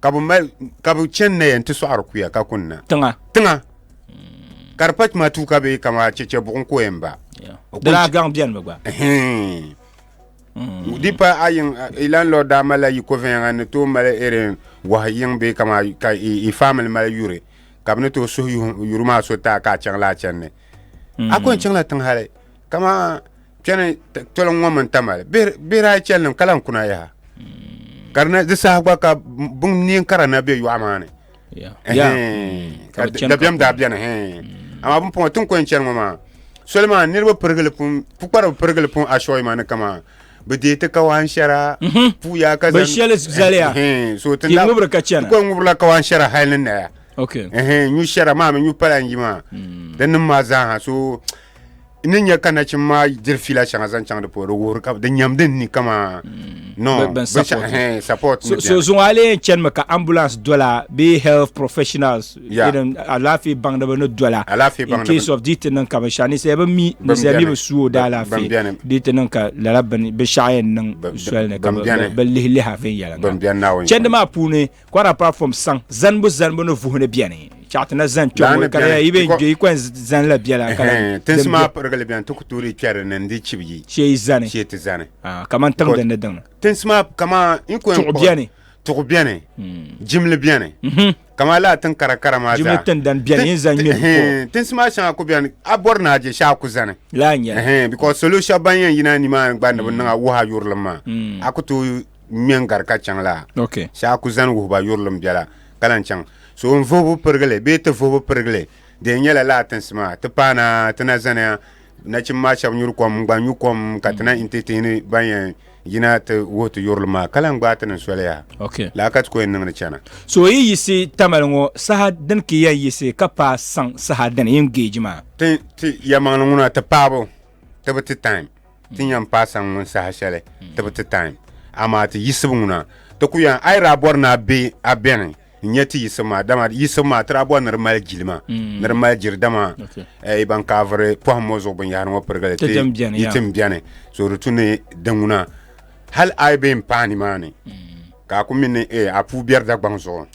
ka bi mali ka bi chɛni na yɛn ti sɔɣiri kuya ka kuni na tiŋa tiŋa ka di pa tuma tuu ka bɛ kama chɛchɛ buɣum ko yɛn ba Yeah. O di daa kuli- gaŋ bɛni mi gba Ɛhɛn. di pa a yiŋ i landlord daa malila yi ko viɛnyɛŋa ni tooi mali irin wahi yiŋ bee kama ka i i family mali yuri ka bi ni tooi suhi yuhi- yuri maa so taa ka a chaŋla a channi a ko n chaŋla tiŋ hali kama kpɛni tɔliŋ ŋɔ mini tamali bihi daa chɛli nim ka lahi kuna yaha mm. ka di saha gba ka bin neen kara na bɛ yɔɣu maa ni mm. ka dabiɛm daa biɛni mm. amaa bin pɔŋɔ tin kɔni chɛni ŋɔ maa soli maa niraba pirigili pun pukparibi pirigili pun ashɔyi maa ni kama bi deei ti kawaan shɛra mhm. puya ka zaŋ shɛli zaliya so ti ŋubiri ka chɛna kɔni ŋubirila kawaan shɛra hali ni naya nyu shɛra maa mi nyu pala n yi maa din nim maa zaaha so n ni nya ka nachimba maa diri fiila shɛŋa zaŋ chaŋ di puuni di wuhiri ka di nyam din ni kama no Bɛ- bɛn binshaɣu- support. hɛn, support ni so, so bɛni. zuŋɔ a lee chanimi ka ambulance dola bee health professionals Yeah. irin alaafee baŋdiba ni dola Alaafee in baŋdiba. case of di ti niŋ ka binshaɣu ninsal bi mi ninsal mi bɛni. bi su o Ban- daalaafee ban bɛni. di ti niŋ ka lala bin- binshaɣu yɛn niŋ Ban- soli ni ka ban bi- bɛni. bi lihi liha viɛnyɛliŋga Ban bɛni Naawuni chɛndi maa puuni Kɔra pa fom saŋ zanibu zanibu ni vuhi ni bɛni chaɣa ti na zani kpɛm Laani ŋɔ ka di bɛni, yi bɛ kɔ- yi kɔn zani la bɛla ka Ɛhɛn, tinsi maa pirigili bɛni ti ku toori kpɛri ni n-di chibi yi shee yi zani shee ti zani Ah, kamani tiŋ Kɔ- din ni diŋ tinsi maa kama n kɔn Tuɣu bɛni. tuɣu bɛni jimli bɛni kama laa tin kara kara maa Jimli zaa. tindan bɛni, Tin- yin zan ŋmɛ di ɛhɛn, tinsi maa shɛŋa ku bɛni a bɔri ni a je shɛhi a ku zani laa nyɛla ɛhɛn because salo shɛba ban yɛn yina ni maa gba ni bi niŋ a wuhi a yurilim maa a ku tooi ŋmɛ n-gari ka chaŋ la, okay. shee a ku zani wuhi ba yurilim bela ka lan chaŋ. So n vuhibu pirigili bee ti vuhibu pirigili di yɛn nyɛla lala tinsi maa ti paai na ti na zaniya nachimba maa shɛba nyuri kom n-gba nyu kom ka ti na inti ti yi ni ban yɛn yina ti wuhi ti yurilim maa ka lan gbaai ti niŋ soli yaha. Okay. Lala ka ti ku yɛn niŋdi chana. So o yi yiɣisi tamali ŋɔ saha dini ka ya yiɣisi ka paai saŋ saha dini yi ni geeji maa? Ti, ti, yɛlimaŋli ŋuna ti paai bu ti bi ti time. ti nyɛm paai saŋ ŋun saha shɛli ti bi ti taim. Amaa ti yisibu ŋuna, ti ku yɛn, a yi daa bɔri ni a be a bɛni n-nyɛ ti yisibu maa, dama yisibu maa ti daa bɔri ni di mali jilima, ni di mali jiri, dama yi ban kaaviri pɔhim ŋɔ zuɣu binyɛhiri ŋɔ pirigili ti yi ti m-bɛni, so di tu ni di ŋuna, hal a yi be m-paai nimaani, ka a ku mi ni a puu biɛri Dagbaŋ zuɣu.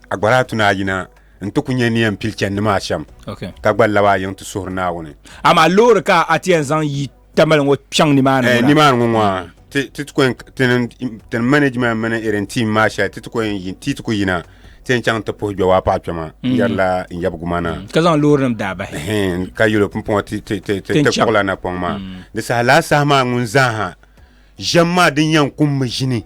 agbara atu ni ayina n ti ku nyɛ ni yɛn pili chani ni maa shɛm okay. ka gba laba a yiŋ ti suhuri Naawuni. Amaa loori ka a ti yɛn zaŋ yi tamali ŋɔ kpɛŋ nimaani ŋɔ eh, na? Nimaani ŋɔ ŋɔ ti ti ku tin management mini irin team maa shɛli ti ti ku yɛn ti ti ku yina ti yɛn chaŋ ti puhi gbɛ waa paɣa kpɛma n yɛrila n yɛbigu ma na. Ka zaŋ loori nim daa bahi. Ka yɛlo pumpɔŋɔ ti ti ti ti ti kpuɣila na kpɔŋ maa. Di saha laa saha maa ŋun zaaha Ʒiɛm maa din yɛn kum mi ʒini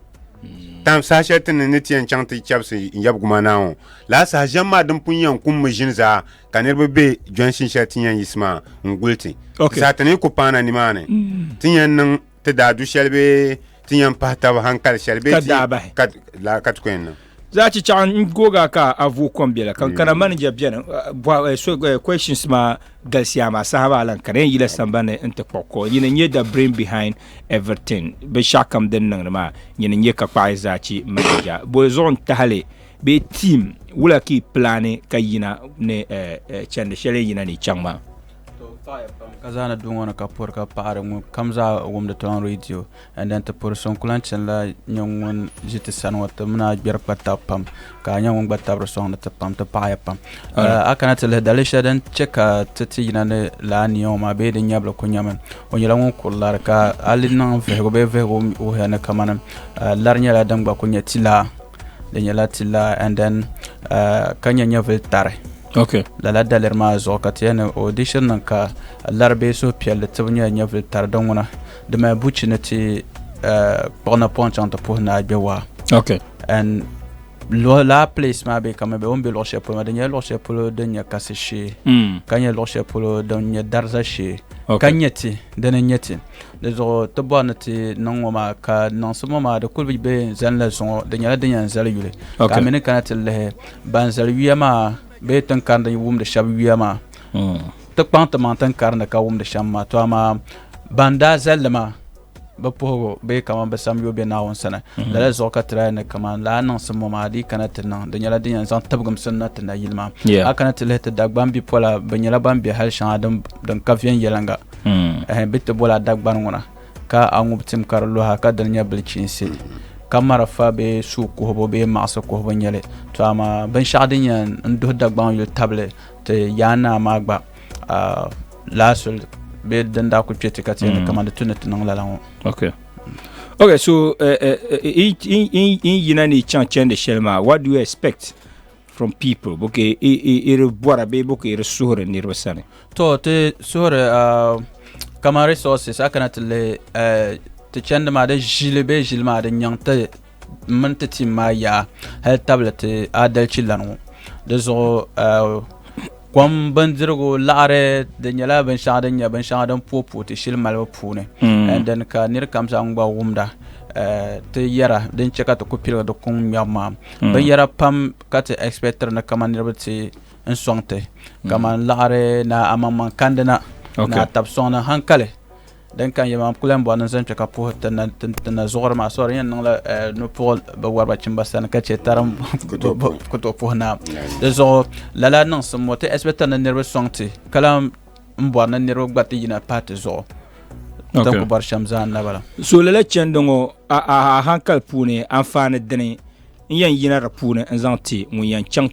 tam saha shɛli ti ni ni ti yɛn chaŋ ti chɛbisi yɛbu guma naa ŋɔ laa saha ʒiɛm maa din pun yɛn kum mi ʒini zaa ka niriba be jɔnshini shɛli ti yɛn yisi maa n-guli ti. Ti saha ti ni ku paana nimaani ti yɛn niŋ ti daa du shɛli bee ti yɛn pahi taba hankali shɛli bee ti ka ti ku yɛn niŋ. Za ci chaŋ n goga ka a vu kom bela kan kana mm. manager beni eh, so eh, questions ma galisiya ma saha ba lan kana yila sambani n ti kpɔɣi ko nyini nyɛ the brain behind everything binshaɣu kam din niŋdi maa nyini nyɛ ka kpaɣi za ci manager boli zuɣu n tahali bee team wula ka i plani ka yina ni eh, chandi shɛli yina ni chaŋ maa ka zaana duŋɔ ni ka pɔri ka paɣari ŋun kam zaa wumdi tɔn radio N ni ti puri so n ku lahi chani la nyɛ ŋun ʒi ti sani ŋɔ ti mini a gbɛri kpa tabi pam ka a nyɛ ŋun gba tabiri sɔŋ ni ti pam ti paɣaya pam a kana ti lihi dali shɛli din chɛ ka ti ti yina ni la aniya ŋɔ maa bee din nyɛbili ku nyɛmi o nyɛla ŋun kuri lari ka a li niŋ vihigu bee vihigu wuhiya ni kamani lari nyɛla din gba ku nyɛ ti laa di nyɛla ti laa and then ka nyɛ nyɛvili tari okay lala daliri maa zuɣu ka ti yɛli ni o di shiri niŋ ka lari bee suhupiɛlli tibu nyɛla nyɛvili tari din ŋuna di mali buchi ni ti kpuɣi napɔŋ chaŋ ti puhi naa gbɛ waa okay and laa place maa bɛ kama bɛ o ni bɛ luɣu shɛli polo maa di nyɛla luɣu shɛli polo din nyɛ kasi shee mm. ka nyɛ luɣu shɛli polo din nyɛ dariza shee ka nyɛ ti din n nyɛ ti di zuɣu ti bɔri ni ti niŋ ŋɔ maa ka niŋsi ŋɔ maa di kuli bɛ n zani la zuŋɔ di nyɛla din yɛn zali yuli ka a mini kana ti lihi ban zali yuya maa bee tin karinda wumdi shɛba yuya maa mm. Ti kpaŋ ti maŋ tin karinli ka wumdi shɛm maa, to amaa ban daa zali li maa bi puhigu bee kaman bi sam yoo be Naawuni sani. Lala zuɣu ka ti daa yɛn ni kaman lala niŋsim ŋɔ maa di yi kana ti niŋ, di nyɛla din yɛn zaŋ tibigimsim na ti nayili maa. Yeah. A kana ti lihi ti Dagban bipola, bɛ nyɛla ban be hal shɛŋa din din ka viɛnyɛliŋga. Ɛhɛn, bɛ ti boli a Dagban ŋuna ka a ŋub tim ka di luha ka di ni nyɛ bilichiinsi, ka marafa bee suu kuhibu bee maɣisi kuhibu nyɛli. To amaa binshɛɣu din yɛn n duhi Dagbaŋ yuli tabili Ti Yaa Naa maa gba lahasul bee din daa kuli kpe ti ka ti yɛn ni kamani tu ni ti niŋ lala ŋɔ. Okay. Okay, so n yina ni chaŋ chɛndi shɛli maa, what do you expect from people? Bo ka i di bɔra bee bo ka i di suhiri niriba sani? To, ti suhiri kamani resources a kana ti lihi ti chɛndi maa di ʒili bee ʒili maa din nyaŋ ti m mini ti tim maa yaa hali tabili ti aadalichi lana ŋɔ. Di zuɣu kom bindirigu laɣiri di nyɛla binshɛɣu din nyɛ binshɛŋa din puoi puoi ti shili malibu puuni and then ka nir kam zaa ŋun gba wumda ti yɛra din chɛ ka ti ku piligi di kuŋ ŋmɛbu maa binyɛra pam ka ti ɛspɛtiri ni kaman niriba ti n sɔŋ ti kaman laɣiri ni amaŋmaŋ kandina ni atab sɔŋni hankali. Din kan ya maa, m kuli lan bɔri ni n zaŋ kpe ka puhi ti na zuɣuri maa sɔri. N yɛn niŋla nupuɣil bi wari ba chimba sani ka chɛ tari m ku tooi puhi naa. Di zuɣu lala niŋsim ŋɔ ti ɛsipɛkta ni niriba sɔŋ ti ka lan bɔri ni niriba gba ti yina pahi ti zuɣu. N tin ku bɔri shɛm zaa n na bala. So lala chɛndi ŋɔ a hankali puuni anfaani dini n yɛn yina di puuni n zaŋ ti ŋun yɛn chaŋ